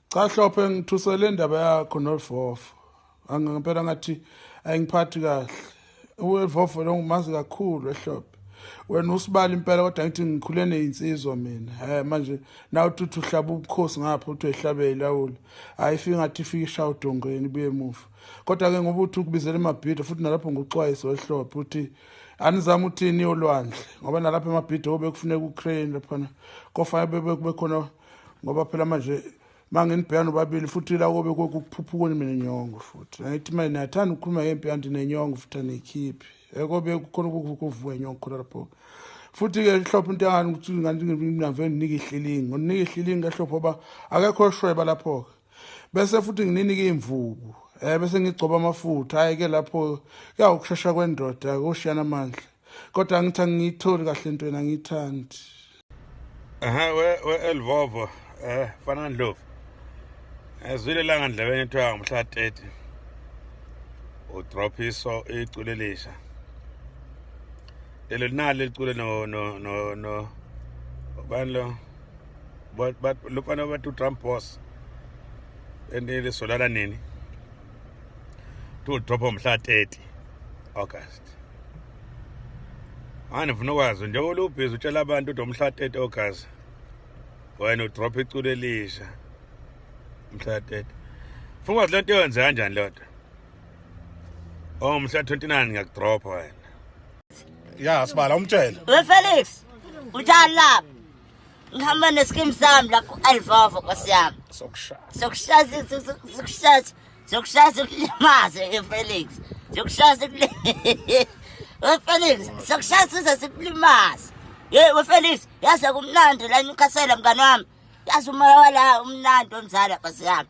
cha hlophe ngithusele indaba yakho novofo angempela ngathi ayingiphathi kahle uwevofo lo ngumazi kakhulu ehlophe wena usibali impela kodwa ngithi ngikhule neyinsizwa mina eh manje na uthuthi uhlaba ubukhosi ngapha uthi ehlabe ilawula ayifika ngathi ifika ishawu dongweni buye emuva kodwa ke ngoba uthi ukubizela emabhido futhi nalapho nguxwayiso ehlophe uthi anizama uthini yolwandle ngoba nalapha emabhido obekufuneka ucrane laphana kofanele bebe khona ngoba phela manje manginibhekana nobabili futhi la kobe kokuphuphuka mina inyongo futhi angithi manje niyathanda ukukhuluma ngempi kanti nenyongo futhi aniyikhiphi ekobe kukhona ukuvuka inyongo khona lapho futhi-ke hlophe into yangani ukuthi nganginave nginika ihlilingi nginika ihlilingi kahlophe uba akekho oshweba lapho-ke bese futhi ngininike iy'mvubu um bese ngigcoba amafutha hhayi-ke lapho kuyawukushesha kwendoda koshiyana amandla kodwa angithi angiyitholi kahle into yena angiyithandi ehe we-elvovo we um eh, fana ndlovu ezwile eh, langa ndlebeni kuthiwa ngomhla 30 udrophiso iculo elisha lelo linali liculo no no no no ubani lo lofana bathi utrump boss enilisolala nini to drop mhla 30 August manje ngifuna ukwazi njengoba lubhizi utshela abantu ukuthi umhla 30 August wena udrop iculo elisha mhla 30 funa ukwazi lento yenze kanjani lento oh mhla 29 ngiyakudrop wena ya sibala umtshela we Felix utshani lapha ngihamba nesikimu sami la ku-alvova nkosi yami sokushaya sokushaya sokushaya sikulimaze efelix sokushaya wefelix sokushaya size sikulimaze ye wefelix yaze kumnandi la newcastle mngane wami yazi umoya wala umnandi omzala nkosi yami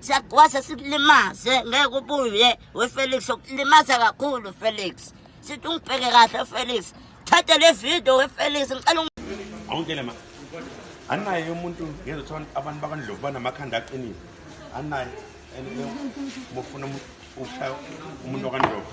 siyagwaza sikulimaze ngeke ubuye wefelix ukulimaza kakhulu felix sithi ungibheke kahle felix thatha le video wefelix ngicela awungitshele ma anaye umuntu ngezothola abantu bakandlovu banamakhanda aqinile anaye and mufuna ukushaya umuntu wakandlovu